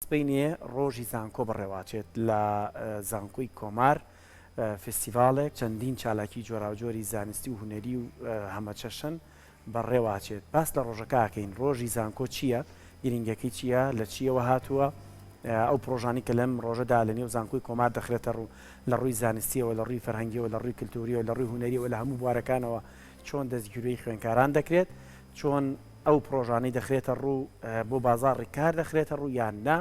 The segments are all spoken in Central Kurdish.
سبەینێ ڕۆژی زانکۆ بەڕێواچێت لە زانکۆی کۆمار فیستیڤاڵێک چەندین چالاکی جۆراوجۆری زانستی و هونەری و هەمەچەشن بەڕێواچێت باس لە ڕۆژەکەکەین ڕۆژی زانکۆ چییە گرنگەکەی چییە لە چیەوە هاتووە ئەو پرۆژانی کە لەم ڕۆژەدا لە نێو زانکۆی کۆمار دەخرێتە ڕوو لە ڕووی زانستیەوە لە ڕووی فەرهەنگیەوە لە ڕووی کللتوریەوە لە ڕووی هونەریەوە لە هەموو بوارەکانەوە چۆن دەستگیروی خوێنکاران دەکرێت چۆن ئەو پڕۆژانەی دەخرێتە ڕوو بۆ بازاڕی کار دەخرێتە ڕوو یان نا،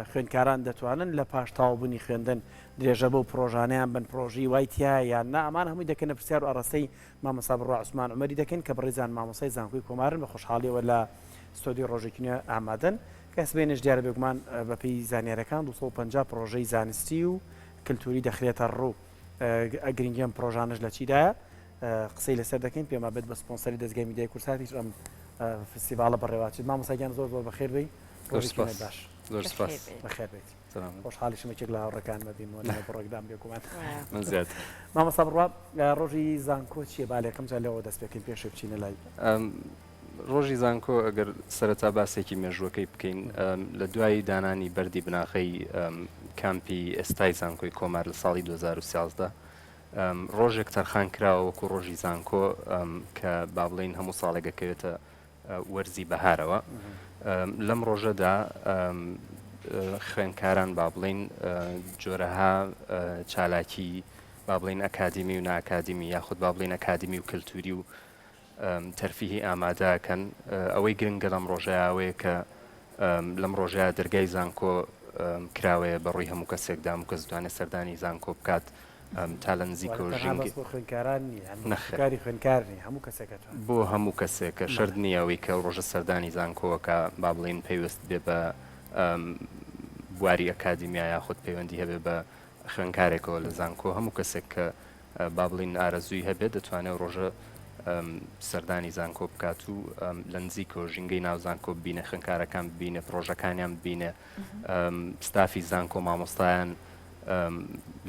خوێندکاران دەتوانن لە پاش تەواوبوونی خوێندن درێژە بەو پڕۆژانەیان بەن، پڕۆژەی وای تیایە یان نا، ئەمانە هەمووی دەکەنە پرسیار و ئاراستەی مامۆستا بڕوا عوسمان عومەری دەکەین کە بەڕێزیان مامۆستای زانکۆی کۆمارن، بە خۆشحاڵیەوە لە ستۆدیۆی ڕۆژێکی نوێ ئامادەن کە هەستبێنێش دیارە بێگومان بەپێی زانیاریەکان دوو سەد و پەنجا پڕۆژەی زانستی و کلتوری دەخرێتە ڕوو. گرنگی ئەم پرۆژانەش لە چیدایە قسەی لەسەر دەکەین پێما بێت بە سپۆنسەری دەستگای میدیای کورساتیش ئەم فستیڤالە بەڕێواچێت مامۆساگیان زۆر زۆر بەخێر بی باش بەخێر بێت خۆشحالی شمەکێک لە هاوڕەکان مەبی بڕۆکدام بێگومان مامۆسا بڕوا ڕۆژی زانکۆ چیە بالێکم جا لەوە دەست پێکەین پێشێ بچینە لای ڕۆژی زانکۆ گەر سەرەتا باسێکی مێژووەکەی بکەین لە دوای دانانی بەردی بناغەی کامپی ئێستای زانکۆی کۆمار لە ساڵی 2013 ڕۆژێک تەرخان کراوە وەکو ڕۆژی زانکۆ کە با بڵین هەموو ساڵێک دەکەوێتە وەرزی بەهارەوە لەم ڕۆژەدا خوێنکاران با بڵین جۆرەها چالاکی با بڵین ئەکادمی و ناکادمی یاخود با بڵین ئەکادمی و کللتوری و تەرفیهی ئامادە ئەکەن ئەوەی گرنگە لەم ڕۆژەیا ئەوەیە کە لەم ڕۆژەیا دەرگای زانکۆ کراوەیە بە ڕووی هەموو کەسێکدا هەموو کەس دەتوانێت سەردانی زانکۆ بکات تا لە نزیکەوە واتە تەنها بەس بۆ خوێندکاران نییە یان نەخێر کاری خوێندکار نییە هەموو کەسێک ئەتوانێت بۆ هەموو کەسێکە بەڵێ شەرت نییە ئەوەی کە ئەو ڕۆژە سەردانی زانکۆ ئەکا با بڵێین پەیوەست بێ بە بواری ئەکادیمیا یاخود پەیوەندی هەبێ بە خوێندکارێکەوە لە زانکۆ هەموو کەسێک کە با بڵێین ئارەزووی هەبێت دەتوانێت ڕۆژە سەردانی زانکۆ بکات و لە نزیکەوە ژینگەی ناو زانکۆ ببینە خوێنکارەکان ببینە پرۆژەکانیان ببینە ستافی زانکۆ مامۆستایان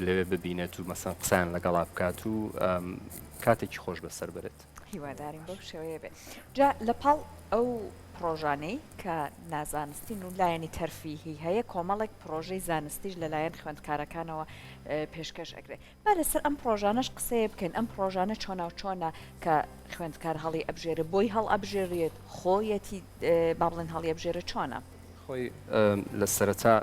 لەوێ ببینێت و مەسەن قسان لەگەڵا بکات و کاتێکی خۆش بەسەر برێت هیوادارین بەو شێوەیە بێت جا لە پاڵ ئەو پرۆژانەی کە نازانستین و لایەنی تەرفیهی هەیە کۆمەڵێک پرۆژەی زانستیش لەلایەن خوێندکارەکانەوە پێشکەش ئەگرێت با لەسەر ئەم پڕۆژانەش قسەیە بکەین، ئەم پڕۆژانە چۆنا و چۆنە کە خوێندکار هەڵی ئەبژێرێ، بۆی هەڵئەبژێرێت، خۆیەتی با بڵێن هەڵی ئەبژێرێ چۆنە؟ خۆی لە سەرەتا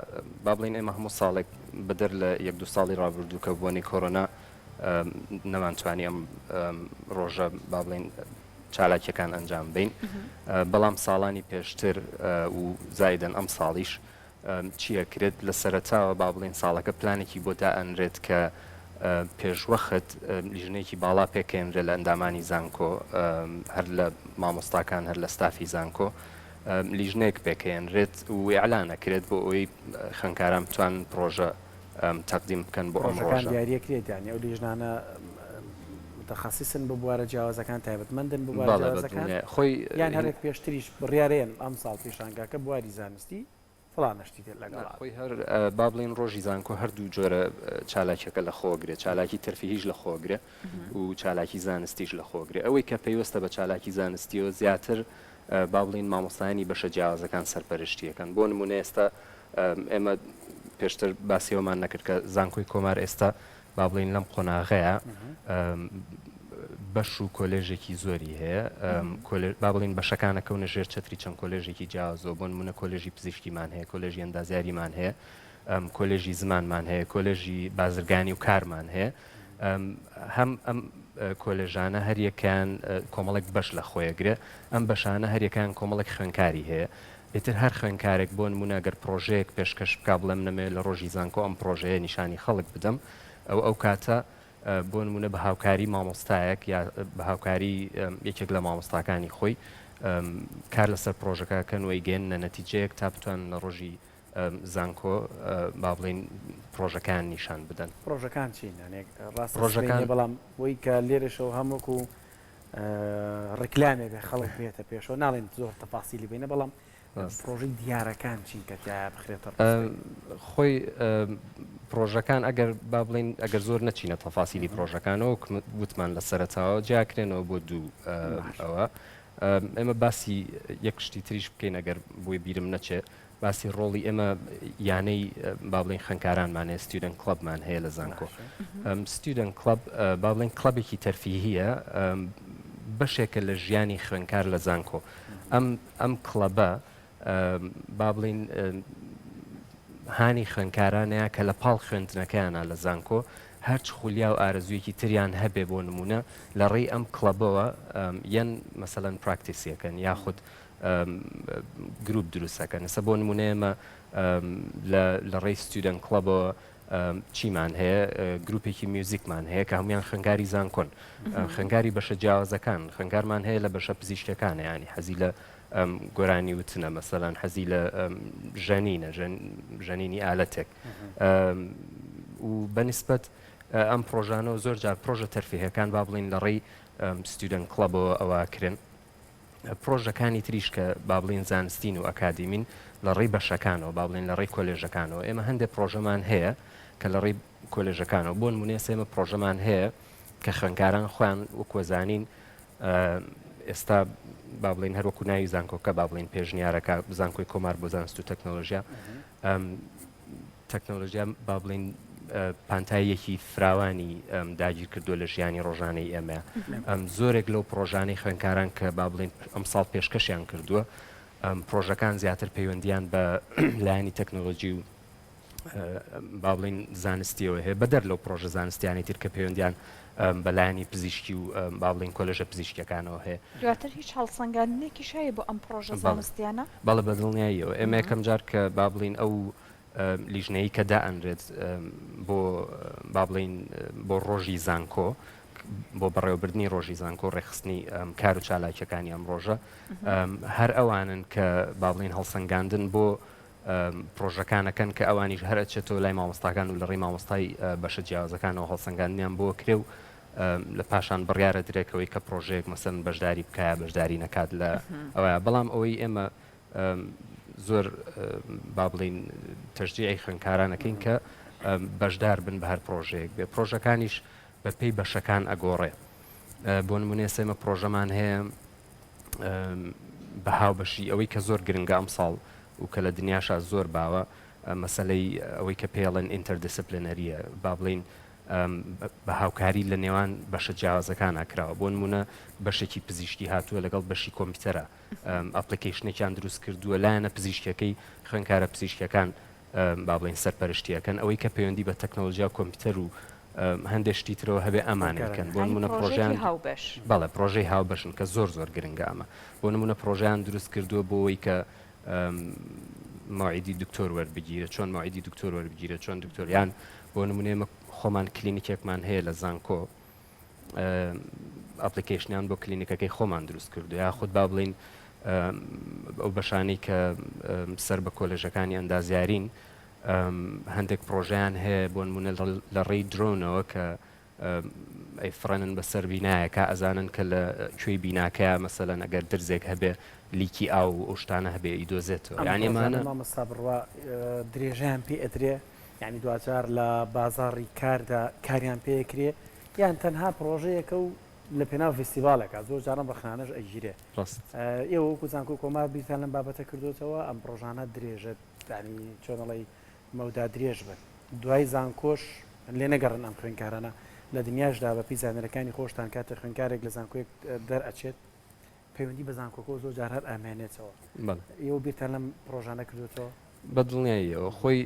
با بڵێن ئێمە هەموو ساڵێک بەدەر لە یەک دوو ساڵی ڕابردوو کە بۆنەی کۆرۆنا نەمانتوانی ئەم ڕۆژە با بڵێن چالاکیەکان ئەنجام بین بەڵام ساڵانی پێشتر و زایدن ئەم ساڵیش چی ئەکرێت؟ لە سەرەتاوە با بڵێین ساڵەکە پلانێکی بۆ دائەنرێت کە پێشوەخت لیژنەیەکی باڵا پێکەێنرێت لە ئەندامانی زانکۆ هەر لە مامۆستاکان هەر لە ستافی زانکۆ لیژنێک پێکەێنرێت و ئەلانە کرێت بۆ ئەوی خەنکاران بتوان پرۆژە تەقدیم بکەن بۆ ئەمڕۆژان دیارەکرێت یانی ئەو لیژنانە متخصیصن بۆ بوارە جیاوازەکان تایبەتمەندن بۆ خۆی یان هەرێک پێشتریش بڕارێن ئەم ساڵ پیشانگاکە بواری زانست ستی فلانە شتی تر لەگەڵا بێت. خۆی هەر با بڵێین ڕۆژی زانکۆ هەردوو جۆرە چالاکیەکە لە خۆ گرێ چالاکی تەرفیهیش لە خۆ گرێ و چالاکی زانستیش لە خۆ گرێ ئەوەی کە پەیوەستە بە چالاکی زانستیەوە زیاتر با بڵێین مامۆستایانی بەشە جیاوازەکان سەرپەرشتی یەکەن بۆ نمونە ئێستا ئێمە پێشتر باسی ئەوەمان نەکرد کە زانکۆی کۆمار ئێستا با بڵێین لەم قۆناغەیە بەش و کۆلێژێکی زۆری هەیە با بڵین بەشەکانە کەونە ژێر چتری چەند کۆلێژێکی جیازۆ بۆن منە کۆلێژی پزیشکیمان هەیە کۆلێژی ئەندازیاریمان هەیە کۆلێژی زمانمان هەیە کۆلێژی بازرگانی و کارمان هەیە هەم ئەم کۆلێژانە هەریەکان کۆمەڵێک بەش لە خۆیەگرێ ئەم بەشانە هەریەکان کۆمەڵێک خوێنکاری هەیە ئیتر هەر خوێندکارێک بۆ نموونە گەر پڕۆژەیەک پێشکەش بکا بڵێ من ئەمەوێ لە ڕۆژی زانکۆ ئەم پڕۆژەیە نیشانی خەڵک بدەم ئەو ئەو کاتە بۆ نموونە بە هاوکاری مامۆستایەک یا بە هاوکاری یەکێک لە مامۆستاکانی خۆی کار لەسەر پرۆژەکە کەن وی گەن نە نەتیجەیەک تا بتوان لە ڕۆژی زانکۆ با بڵین پرۆژەکان نیشان بدەن پرۆژەکان چین ڕاستڕۆژەکان بەڵام بۆی کە لێرەشەوە هەموەکو ڕیکلامێ بێ خەڵک بێتە پێشەوە ناڵێن زۆر تەپاسیلی بینە بەڵام پرۆژی دیارەکان چین کە تیا بخرێتە خۆی پرۆژەکان ئەگەر با بڵین ئەگەر زۆر نەچینە تەفاسیلی پرۆژەکانەوە وتمان لە سەرتاوە جیاکرێنەوە بۆ دوو ئەوە ئێمە باسی یەک شتی تریش بکەین ئەگەر بۆی بیرم نەچێت باسی ڕۆڵی ئێمە یانەی با بڵێین خوێندکارانمان هەیە، ستیودەنت کڵەبمان هەیە لە زانکۆ. ئەم ستیودەنت کڵەب با بڵێین کڵەبێکی تەرفیهییە، بەشێکە لە ژیانی خوێندکار لە زانکۆ. ئەم ئەم کڵەبە با بڵێین هانی خوێندکارانەیە کە لە پاڵ خوێندنەکەیانە لە زانکۆ، هەرچ خولیا و ئارەزوویەکی تریان هەبێ بۆ نموونە لەڕێی ئەم کڵەبەوە یەن مەسەلەن پراکتیسیەکەن یاخود گروپ دروست ئەکەن ئێستا بۆ نمونە ئێمە لە ڕێی ستیودەن کڵەبەوە چیمان هەیە گروپێکی میوزیکمان هەیە کە هەموان خنگاری زانکۆن خنگاری بەشە جیاوازەکان خنگارمان هەیە لە بەشە پزیشتەکانە ینی حەزی لە گۆرانی وتنە مەسەلان حەزی لە ژەنینە ژەنینی ئالەتێک و بەنسبەت ئەم پرۆژانەوە زۆر جار پرۆژە تەرفیهەکان با بڵین لە ڕێی ستیودەن کڵەبەوە ئەوە کرن پڕۆژەکانی تریش کە با بڵێین زانستین و ئەکادیمین لە ڕێی بەشەکانەوە با بڵێین لە ڕێی کۆلێژەکانەوە ئێمە هەندێک پڕۆژەمان هەیە کە لە ڕێی کۆلێژەکانەوە بۆن مونێ سێمە پڕۆژەمان هەیە کە خوێنکاران خۆیان وکوەزانین ئێستا با بڵین هەروەکو ناوی زانکۆکە با بڵین پێشنیارەکە زانکۆی کۆمار بۆ زانست و تەکنەلۆژیا تەکنۆلۆژیا با بڵێین پانتاییەکی فراوانی داگیر کردووە لە ژیانی ڕۆژانەی ئێمە ئەم زۆرێک لەو پرۆژانەی خوێنکاران کە با بڵێن ئەمساڵ پێشکەشیان کردووە پرۆژەکان زیاتر پەیوەندیان بە لایەنی تەکنۆلۆژی و با بڵین زانستیەوە هەیە بەدەر لەو پرۆژە زانستیانی تر کە پەیوەندیان بە لایەنی پزیشکی و با بڵێین کۆلێژە پزیشکییەکانەوە هەیە. دواتر هیچ هەڵسەنگاندنێکیش هەیە بۆ ئەم پڕۆژە زانستییانە؟ بەڵێ بە دڵنیاییەوە. ئێمە یەکەم جار کە با بڵێین ئەو لیژنەیی کە دائەنرێت بۆ با بڵێین بۆ ڕۆژی زانکۆ بۆ بەڕێوەبردننی ڕۆژی زانکۆ ڕێخستنی کار و چالاکیەکانی ئەم ڕۆژە هەر ئەوانن کە با بڵێن هەڵسەنگاندن بۆ پرۆژەکانەکەن کە ئەوانیش هەر ئەچێتەوە لای مامۆستاکان و لە ڕێی مامۆستای بەشە جیاوازەکانەوە هەڵسەنگاندنیان بۆ کرێ و لە پاشان بڕیارە درێکەوەی کە پرۆژەیەک مەسەن بەشداری بکایە بەشداری نەکات لە ئەوە بەڵام ئەوەی ئێمە زۆر با بڵین تەژدیعی خوێنکارانەکەین کە بەشدار بن بە هەر پرۆژەیەک بێ پرۆژەکانیش بەپی بەشەکان ئەگۆڕێ بۆ نمونێ سێمە پرۆژەمان هەیە بە هاوبەشی ئەوەی کە زۆر گرنگە ئەمساڵ و کە لە دنیاشا زۆر باوە مەسەلەی ئەوەی کە پێڵێن ئینتەر دیسپلینەریە با بڵین بە هاوکاری لە نێوان بەشە جیاوازەکان ئاکراوە بۆ نمونە بەشێکی پزیشکی هاتووە لەگەڵ بەشی کۆمپیوتەرە ئەپلیکیشنێکیان دروست کردووە لایەنە پزیشکەکەی خوێنکارە پزیشکەکان با بڵێین سەرپەرشتییەکەن، ئەوەی کە پەیوەندی بە تەکنەلۆژیا و کۆمپیوتەر و هەندێ شتی ترەوە هەبێ ئەمانەی کەن. بۆ نموونە پڕۆژەیان. یانی پڕۆژەیەکی هاوبەش. بەڵێ پڕۆژەی هاوبەشن کە زۆر زۆر گرنگە ئەمە. بۆ نموونە پڕۆژەیان دروست کردووە بۆ ئەوەی کە مەوعیدی دکتۆر وەربگیرێ، چۆن مەوعیدی دکتۆر وەربگیرێ، چۆن دکتۆر یان بۆ نموونە ئێمە خۆمان کلینیکێکمان هەیە لە زانکۆ، ئەپلیکەیشنیان بۆ کلینیکەکەی خۆمان دروست کردو یاخود با بڵین ئەو بەشانەی کە سەر بە کۆلێژەکانی ئەندازیارین هەندێک پرۆژیان هەیە بۆ نمونە لە ڕێی درۆنەوە کە ئەی فڕێنن بەسەر بینایەکە ئەزانن کە لە کوێی بیناکەیە مەسەلەن ئەگەر درزێک هەبێ لیکی ئاو ئەو شتانە هەبێ ئیدۆزێتەوە یانیمانە مامەستا بڕوا درێژیان پێ ئەدرێ یانی دواجار لە بازاڕی کاردا کاریان پێ ئەکرێ یان تەنها پڕۆژەیەکە و لە پێناو ڤیستیڤاڵێکا زۆر جاران ڕەخنانەش ئەگیرێ. ڕاست. ئێوە وەکو زانکۆی کۆمار بیرتان لەم بابەتە کردۆتەوە ئەم پڕۆژانە درێژە یانی چۆن ئەڵێی مەودا درێژ بن دوای زانکۆش لێ نەگەڕن ئەم خوێندکارانە لە دنیاشدا بە پێی زانەرەکانی خۆشتان کاتێ خوێندکارێک لە زانکۆیەک دەر ئەچێت پەیوەندی بە زانکۆکەوە زۆر جار هەر ئامێنێتەوە ئێوە بیرتان لەم پرۆژانە کردوێتەوە بە دڵنیاییەوە خۆی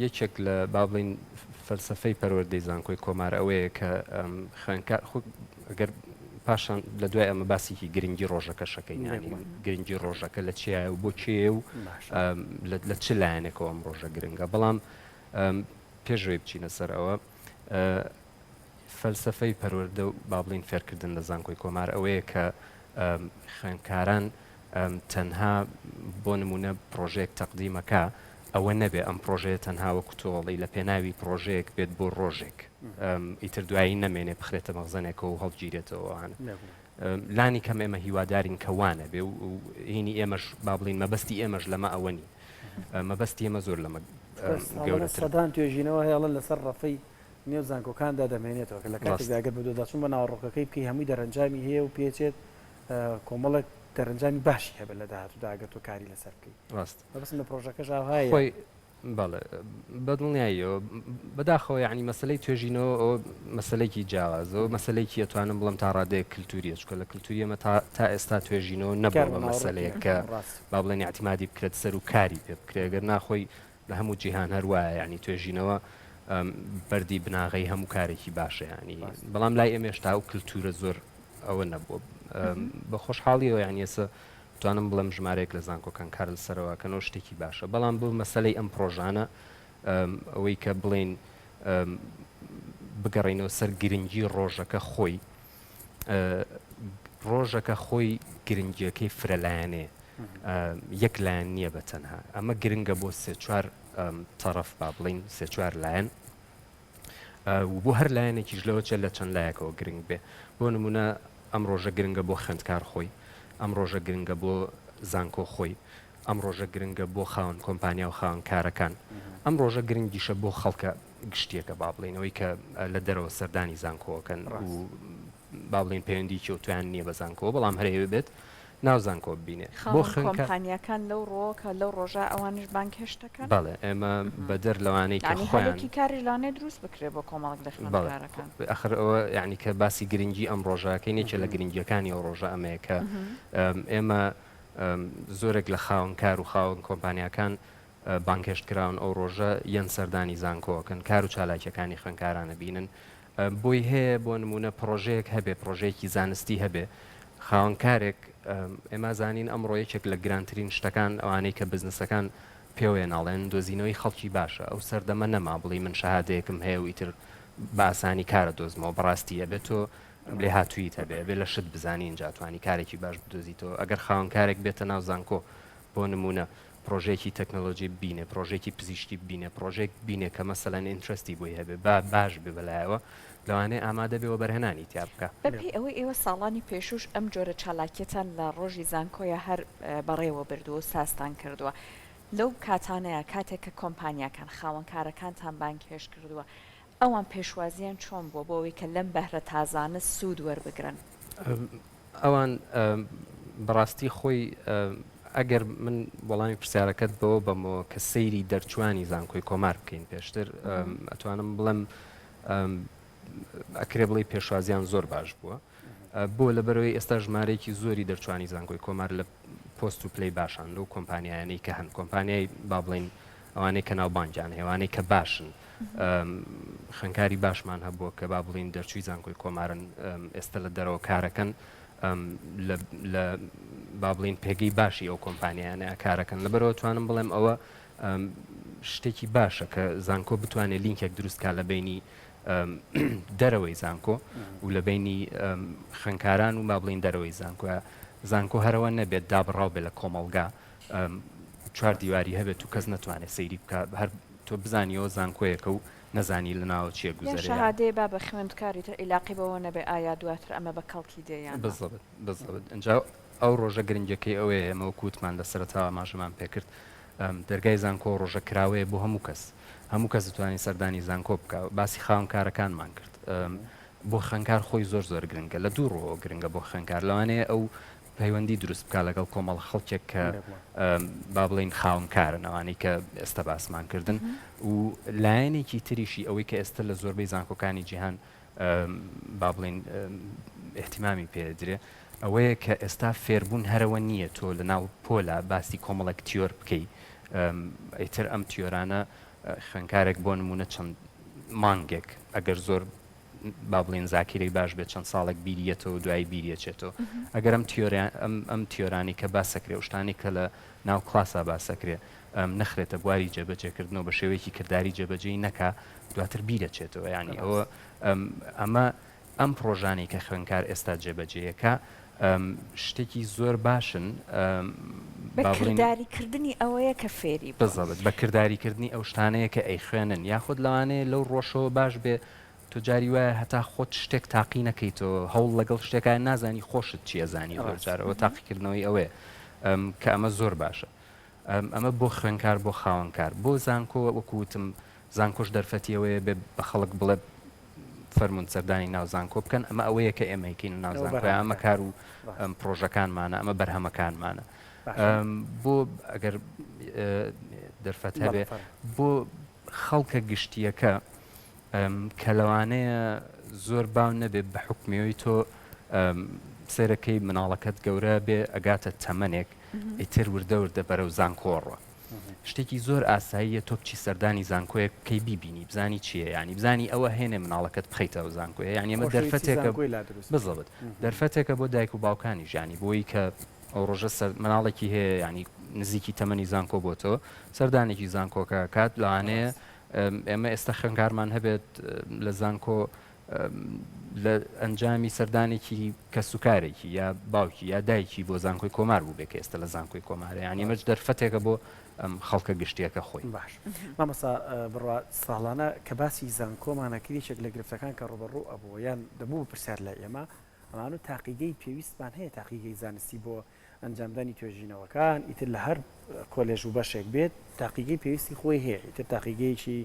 یەکێک لە با بڵین فەلسفەی پەروەردەی زانکۆی کۆمار ئەوەیە کە خوێنکار ئەگەر پاشان لە دوای ئەمە باسێکی گرنگی ڕۆژەکە شەکەین ینی گرنگی ڕۆژەکە لە چیە و بۆ کێ و لە چ لایەنێکەوە ئەم ڕۆژە گرنگە بەڵام پێشوەی بچینە سەر ئەوە فەلسەفەی پەروەردە و با بڵێین فێرکردن لە زانکۆی کۆمار ئەوەیە کە خوێندکاران تەنها بۆ نمونە پرۆژێک تەقدیمەکە ئەوە نەبێ ئەم پرۆژەیە تەنها وە کوتۆڵی لە پێناوی پرۆژێک بێت بۆ ڕۆژێک ئیتر دوایی نەمێنێ بخرێتە مەغزەنێکەوە و هەڵگیرێتەوەوان لانی کەم ئێمە هیوادارین کە وانەبێ و هینی ئێمەش با بڵین مەبەستی ئێمەش لەمە ئەوە نین مەبەستی ئێمە زۆر لەمە گەورەسەدان توێژینەوە هێڵن لەسەر ڕەفەی نێو زانکۆکاندا دەمێنێتەوە کە لە کاتێکداگەر بە دۆداچون بە ناوەڕۆکەکەی بکەی هەمووی دەرەنجامی هەیە و پێچێت کۆمەڵک دەرەنجامی باشی هەبێت لە داهاتوو داگەر تۆ کاری لەسەر بکەیت ڕاست بەبستن لە پرۆژەکەش ئاهای بەڵێ بە دڵنیاییەوە بەداخەوە یعنی مەسلەی توێژینەوە ئەوە مەسلەیەکی جیاوازەوە مەسلەیەکی ئەتوانم بڵم تا ڕادەیە کللتوریە چکە لە کللتوریەمە تا تا ئێستا توێژینەوە نەبوو بە مەسلەیە کە با بڵێن یاعتیمادی بکرێت سەر و کاری پێ بکرێت گەر ناخۆی لە هەموو جیهان هەروایە یعنی توێژینەوە بەری بناغی هەموو کارێکی باشەیانی بەڵام لای ئێمێشتا و کللتورە زۆر ئەوە نەبووە بە خۆشحاڵیەوە یعنیەسە توانم بڵێم ژمارەیەک لە زانکۆکان کار لەسەرەوە ئەکەن و شتێکی باشە بەڵام بۆ مەسەلەی ئەم پڕۆژانە ئەوەی کە بڵێین بگەڕینەوە سەر گرنگی ڕۆژەکە خۆی ڕۆژەکە خۆی گرنگیەکەی فرەلایەنێ یەک لایەن نییە بە تەنها ئەمە گرنگە بۆ سێ چوار تەرەف با بڵین سێ چوار لایەن و بۆ هەر لایەنێکیش لەوە چێ لە چەند لایەکەوە گرنگ بێ بۆ نموونە ئەم ڕۆژە گرنگە بۆ خوێندکار خۆی ئەم ڕۆژە گرنگە بۆ زانکۆ خۆی ئەم ڕۆژە گرنگە بۆ خاوەن کۆمپانیا و خاوەن کارەکان ئەم ڕۆژە گرنگیشە بۆ خەڵکە گشتیەکە با بڵێنەوەی کە لە دەرەوە سەردانی زانکۆکەن و با بڵێن پەیوەندیکی و تویان نییە بە زانکۆ بەڵام هەرەیە بێت ناو زانکۆ ببینێ بۆ خاوەن خوێندکار. کۆمپانیاکان لەو ڕوەوە کە لەو ڕۆژە ئەوانیش بانگهێشت دەکەن؟ بەڵێ ئێمە بەدەر لەوانەی کە یانی خۆیان. هەلێکی کاریش لەوانەیە دروست بکرێت بۆ کۆمەڵک لە بەڵێ خوێندکارەکان. ئەخر ئەوە یانی کە باسی گرنگی ئەم ڕۆژە ئەکەین یەکێ لە گرنگیەکانی ئەو ڕۆژە ئەمەیە کە ئێمە زۆرێک لە خاوەن کار و خاوەن کۆمپانیاکان بانگهێشت کراون ئەو ڕۆژە یەن سەردانی زانکۆ ئەکەن کار و چالاکیەکانی خوێنکاران ئەبینن بۆی هەیە بۆ نموونە پڕۆژەیەک هەبێ پڕۆژەیەکی زانستی هەبێ خاوەن کارێک ئێمە زانین ئەمڕۆ یەکێک لە گرانترین شتەکان ئەوانەی کە بزنسەکان پێوەیە ناڵێن دۆزینەوەی خەڵکی باشە ئەو سەردەمە نەما بڵی من شەهادەیەکم هەیە و ئیتر باسانی کارە دۆزمەوە بەڕاستی ئەبێت تۆ لێ هاتوویت هەبێ بێ لە شت بزانین جاتوانی کارێکی باش بدۆزیتەوە ئەگەر خاوەن کارێک بێتە ناو زانکۆ بۆ نمونە پڕۆژەیەکی تەکنەلۆجی ببینێ پڕۆژێکی پزیشکی ببینێ پڕۆژێک بینێ کە مەسەلەن ئینترستی بۆی هەبێ با باش بێ بەلایەوە لەوانەیە ئامادە بێ وەبەرهێنانی تیا بکا. بەپێی ئەوەی ئێوە ساڵانی پێشووش ئەم جۆرە چالاکیەتان لە ڕۆژی زانکۆیا هەر بەڕێوە بردووە و سازتان کردووە لەو کاتانەیا کاتێک کە کۆمپانیاکان خاوەنکارەکانتان بانگهێشت کردووە ئەوان پێشوازییان چۆن بووە بۆ ئەوەی کە لەم بەهرە تازانە سوود وەربگرن؟ ئەوان بەڕاستی خۆی ئەگەر من وەڵامی پرسیارەکەت بەوە بەمەوە کە سەیری دەرچوانی زانکۆی کۆمار بکەین پێشتر ئەتوانم بڵم ئەکرێ بڵی پێشوازیان زۆر باش بووە بۆ لە بەرەوەی ئێستا ژمارەیەکی زۆری دەرچوانی زانکۆی کۆمار لە پۆست و پلی باشان لەو کۆمپانیایانەی کە هەن کۆمپانیای با بڵین ئەوانەی کە ناوبانگیان هەیە، ئەوانەی کە باشن، خوێندکاری باشمان هەبووە کە با بڵێین دەرچووی زانکۆی کۆمارن، ئێستا لە دەرەوە کارەکەن لە با بڵێین پێگەی باشی ئەو کۆمپانیانە کارەکەن، لەبەرەوە توانم بڵێم ئەوە شتێکی باشە کە زانکۆ بتوانێت لینکێک دروستکە لە بینی دەرەوەی زانکۆ و لە بینی خوێندکاران و با بڵین دەرەوەی زانکۆە زانکۆ هەرەوە نەبێت دابڕاو بێت لە کۆمەڵگا چوار دیواری هەبێت و کەس نەتوانێت سەیری بکا هەر تۆ بزانی ئەوە زانکۆیەکە و نەزانی لە ناوە چیە گوزەرێ یان شەهادەیە بابە خوێندکاری تر ئیلاقەی بەوە نەبێ ئایا دواتر ئەمە بە کەڵکی دێ یان نا. بزەبت بزەبت ئینجا ئەو ڕۆژە گرنگەکەی ئەوەیە ئێمە وەکو وتمان لە سەرەتاوە ئاماژەمان پێ کرد دەرگای زانکۆ ڕۆژە کراوەیە بۆ هەموو کەس هەموو کەس دەتوانێت سەردانی زانکۆ بکا باسی خاونکارەکانمان کرد بۆ خوێندکار خۆی زۆر زۆر گرنگە لە دوو ڕووەوە گرنگە بۆ خوێندکار لەوانەیە ئەو پەیوەندی دروست بکات لەگەڵ کۆمەڵە خەڵکێک کە با بڵێین خاونکارن ئەوانەی کە ئێستا باسمان کردن و لایەنێکی تریشی ئەوەی کە ئێستا لە زۆربەی زانکۆکانی جیهان با بڵین احتیمامی پێدرێ ئەوەیە کە ئێستا فێربوون هەرەوە نییە تۆ لە ناو پۆلا باسی کۆمەڵێک تیۆر بکەی ئەیتر ئەم تیۆرانە خوێنکارێک بۆ نمونە چەند مانگێک ئەگەر زۆر با بڵێن زاکیرەی باش بێت چەند ساڵێک بیری یەتەوە دوایی بیری ئەچێتەوە ئەگەر ئەم تیۆرە ئەم ئەم تیۆرانی کە باسەکرێ و شتانی کە لە ناو کلاسا باسەکرێ ئەم نەخرێتە بواری جێبەجێکردنەوە بە شێوەیەکی کردداری جێبەجێی نەکا دواتر بیرەچێتەوە ینی ئەوە ئەم ئەمە ئەم پرۆژانەی کە خوێنکار ئێستا جێبەجێیەکە شتێکی زۆر باشن با بڵێین بەکرداری کردنی ئەوەیە کە فێری بووە. بزەبت بە کرداری کردنی ئەو شتانەیە کە ئەیخوێنن یاخود لەوانەیە لەو ڕۆژەوە باش بێ تۆ جاری وایە هەتا خۆت شتێک تاقی نەکەیتەوە هەوڵ لەگەڵ شتێکە نازانی خۆشت چیە زانی ڕاست. زۆرجارەوە تاقیکردنەوەی ئەوەیە ئەم کە ئەمە زۆر باشە. ئەمە بۆ خوێنکار بۆ خاوەنکار بۆ زانکۆ وەکو وتم زانکۆش دەرفەتی ئەوەیە بێ بە خەڵک بڵێ فەرموون سەردانی ناو زانکۆ بکەن ئەمە ئەوەیە کە ئێمەیکەین ناو زانکۆ ئەمە کار و پرۆژەکانمانە ئەمە بەرهەمەکانمانە بۆ ئەگەر دەرفەت هەبێ بۆ خەڵکە گشتیەکە کە لەوانەیە زۆر باو نەبێت بە حکمەوەی تۆ سێرەکەی مناڵەکەت گەورە بێ ئەگاتە تەمەنێک ئیتر وردە وردە بەرەو زانکۆڕوە شتێکی زۆر ئاساییە تۆ بچی سەردانی زانکۆیەک کەی بیبینی بزانی چیە ینی بزانی ئەوە هێنێ مناڵەکەت بخیتەوە زانکۆیە ینی ئەمە دەرفەتێکە بزڵت دەرفەتێکە بۆ دایک و باوکانی ژانی بۆی کە ئەو ڕۆژە سەر مناڵێکی هەیە یعنی نزیکی تەمەنی زانکۆ بۆ تۆ سەردانێکی زانکۆکە کات لەوانەیە ئێمە ئێستا خوێنکارمان هەبێت لە زانکۆ لە ئەنجامی سەردانێکی کەسوکارێکی یا باوکی یا دایکی بۆ زانکۆی کۆمار بوو بێکە ئێستا لە زانکۆی کۆمارە ینی مەچ دەرفەتێکە بۆ ئەم خەڵکە گشتیەکە خۆی باش مامەسا بڕوا ساڵانە کە باسی زانکۆمانەکریچێک لە گرفتەکان کە ڕوبەڕوو ئەبوو یان دەبوو پرسیار لە ئێمە ئەمانە و تاقیگەی پێویستمان هەیە تاقیگەی زانستی بۆ ئەنجامدانی توێژینەوەکان ئیتر لە هەر کۆلێژ و بەشێک بێت تاقیگەی پێویستی خۆی هەیە ئیتر تاقیگەیەکی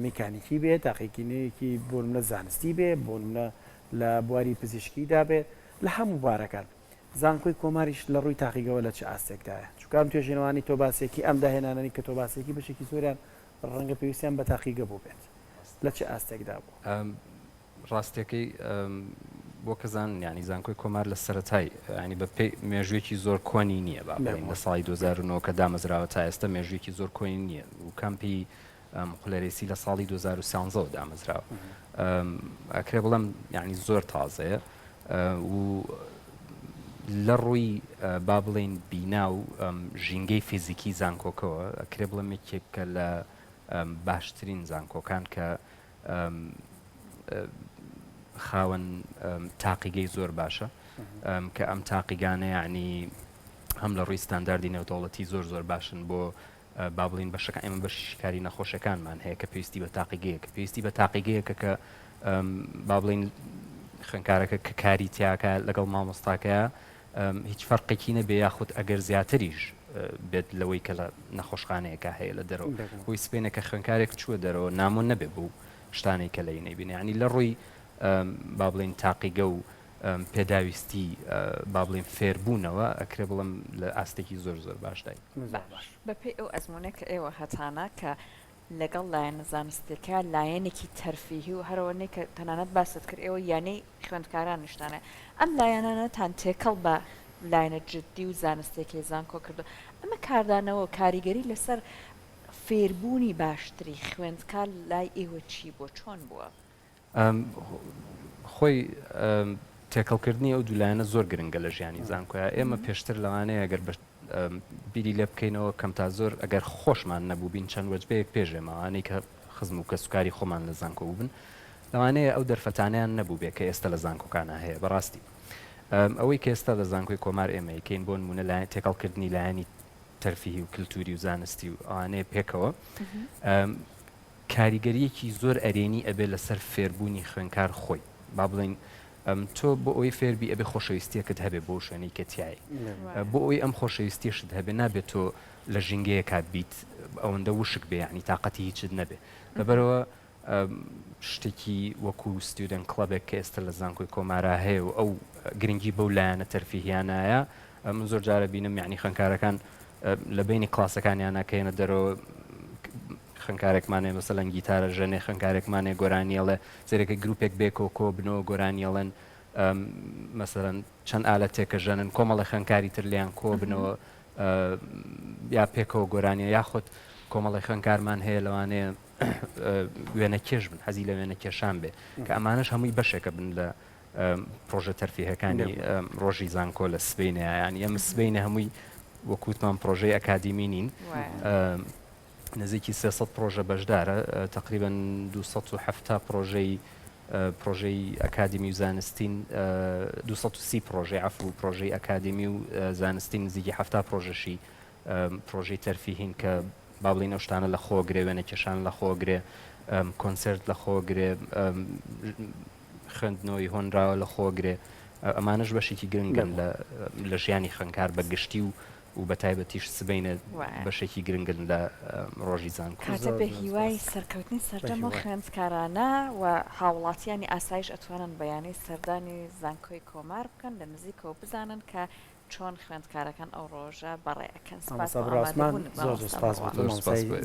میکانیکی بێت تاقیکینەیەکی بۆنمە زانستی بێ بۆنمە لە بواری پزیشکیدا بێت لە هەموو بارەکان زانکۆی کۆماریش لە ڕووی تاقیگەوە لە چ ئاستێکدایە چکام توێژێنەوانی تۆ باسێکی ئەم داهێنانەی کە تۆ باسێکی بەشێکی زۆریان ڕەنگە پێویستیان بە تاقیگە بوو بێت لە چ ئاستێکدا بوو ڕاستەکەی بۆ کە زان یانی زانکۆی کۆمار لە سەرەتای ینی بە پێی مێژوێکی زۆر کۆنی نییە با بڵێن لە ساڵی 2009 کە دامەزراوە تا ئێستا مێژوێکی زۆر کۆنی نییە و کەمپی قلەرێسی لە ساڵی 2013 دامەزراوە ئەکرێ بڵم یعنی زۆر تازەیە و لە ڕووی با بڵین بینا و ژینگەی فیزیکی زانکۆکەوە ئەکرێ بڵم یەکێکە لە باشترین زانکۆکان کە خاوەن تاقیگەی زۆر باشە کە ئەم تاقیگانە یعنی هەم لە ڕووی ستانداردی نێودەوڵەتی زۆر زۆر باشن بۆ با بڵین بەشەکە ئێمە بەش شکاری نەخۆشەکانمان هەیە کە پێویستی بە تاقیگەیەکە پێویستی بە تاقیگەیەکە کە با بڵین خوێنکارەکە کە کاری تیاکە لەگەڵ مامۆستاکەیە هیچ فەرقێکی نەبێ یاخود ئەگەر زیاتریش بێت لەوەی کە لە نەخۆشخانەیەکە هەیە لە دەرەوە بۆی سپێنە کە خوێنکارێک چووە دەرەوە نامۆ نەبێ بوو شتانەی کە لەی نەیبینیانی لە ڕووی با بڵین تاقیگە و پێداویستی با بڵین فێربوونەوە ئەکرێ بڵم لە ئاستێکی زۆر زۆر باشدای بەپی ئەو ئەزمونە کە ئێوە هەتانە کە لەگەڵ لایەنە زانستیەکە لایەنێکی تەرفیهی و هەرەوەنەی کە تەنانەت باست کرد ئێوە یانەی خوێندکارانیشتانە ئەم لایەنانەتان تێکەڵ بە لایەنە جدی و زانستیەکەی زانکۆ کردووە ئەمە کاردانەوە و کاریگەری لەسەر فێربوونی باشتری خوێندکار لای ئێوە چی بووە چۆن بووە؟ خۆی تێکەڵ کردنی ئەو دوو لایەنە زۆر گرنگە لە ژیانی زانکۆیە ئێمە پێشتر لەوانەیە ئەگەر بە بیری لێ بکەینەوە کەم تا زۆر ئەگەر خۆشمان نەبووبین چەند وەجبەیەک پێشێ ماوانەی کە خزم و کەسوکاری خۆمان لە زانکۆ بووبن لەوانەیە ئەو دەرفەتانیان نەبووبێ کە ئێستا لە زانکۆکانە هەیە بەڕاستی ئەوەی کە ئێستا لە زانکۆی کۆمار ئێمەیکەین بۆ نمونە لایەن تێکەڵکردنی لایەنی تەرفیهی و کللتوری و زانستی و ئەوانەیە پێکەوە کاریگەریەکی زۆر ئەرێنی ئەبێت لەسەر فێربوونی خوێنکار خۆی با بڵێین تۆ بۆ ئەوەی فێربی ئەبێ خۆشەویستیەکەت هەبێ بۆ شوێنەی کە تایە بۆ ئەوی ئەم خۆشەویستیشت هەبێ نابێت تۆ لە ژینگەیە کات بیت ئەوەندە وشک بێ ینی تااقەتی هیچت نەبێ لەبەرەوە شتێکی وەکو ستودنت کلبێک کە ئێستا لە زانکۆی کۆمارا هەیە و ئەو گرنگی بەو لایەنە تەرفیهیانایە من زۆر جارە بینم یعنی خوێنکارەکان لە بینی کلاسەکانیانە کە یەنە دەرەوە خوێنکارێکمانێ مەسەلەن گیتارە ژەنێ خوێنکارێکمانێ گۆرانیەڵێ زێرەکە گرروپێک بێ کۆکۆ بنەوە گۆرانیەڵێن مەسەرەن چەند ئالە تێکە ژەنن کۆمەڵە خوێنکاری تر لیان کۆ بنەوە یا پێکەوە گۆرانیە یاخود کۆمەڵی خوێنکارمان هەیە لەوانەیە وێنە کێش بن حەزی لە وێنە کێشان بێ کە ئەمانش هەمووی بەشێکە بن لە پڕۆژە تەرفیهەکانی ڕۆژی زانکۆ لە سبینەیان یەم سبینە هەمووی وەکووتمان پرۆژەی ئەکادیمی نین نزیکی 300 پرۆژە بەشدارە تقریبان 270 پرۆژەی پرۆژەی ئەکادمی و زانستین 230 پرۆژەی عف و پرۆژەی ئەکادمی و زانستی نزیکی هەفتا پرۆژەشی پرۆژەی تەرفیهین کە با بڵێین ئەو شتانە لە خۆ گرێ وێنە کێشان لە خۆ گرێ کۆنسرت لە خۆ گرێ خوێندنەوەی هۆنراوە لە خۆ گرێ ئەمانش بەشێکی گرنگن لە ژیانی خوێنکار بە گشتی و و بە تایبەتیش سبینە بەشێکی گرنگن لە ڕۆژی زان کاتە بە هیوای سەرکەوتنی سەردەمە خوێندکارانە و هاوڵاتیانی ئاسایش ئەتوانن بەیانەی سەردانی زانکۆی کۆمار بکەن لە نزیکەوە بزانن کە چۆن خوێندکارەکان ئەو ڕۆژە بەڕێ ئەکەن سپاس بۆ ئامادەبوونت مامۆستا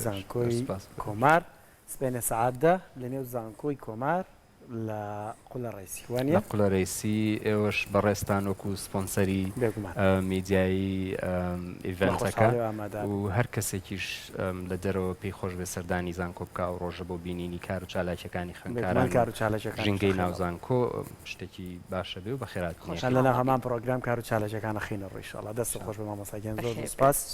زانکۆی کۆمار سبەینێ سەعات دە لە نێو زانکۆی کۆمار لە قولە ڕێسی وانە لە قولە ڕێسی ئێوەش بەڕێستان وەکو سپۆنسەری میدیایی ئیڤنتەکە و هەر کەسێکیش لە دەرەوە پێی خۆش بێ سەردانی زانکۆ بکە ئەو ڕۆژە بۆ بینینی کار و چالاکیەکانی خوێنکاران کار و چالاکەکان ژینگەی ناوزانکۆ شتەکی باشە بێ و بەخێرات نیە. چەند لەناو هەمان پڕۆگرام کارو چالێجەکان ئەخینە ڕوو ئیشاڵا دەستت خۆش بێ مامۆستا گیان زۆر زۆر سوپاس.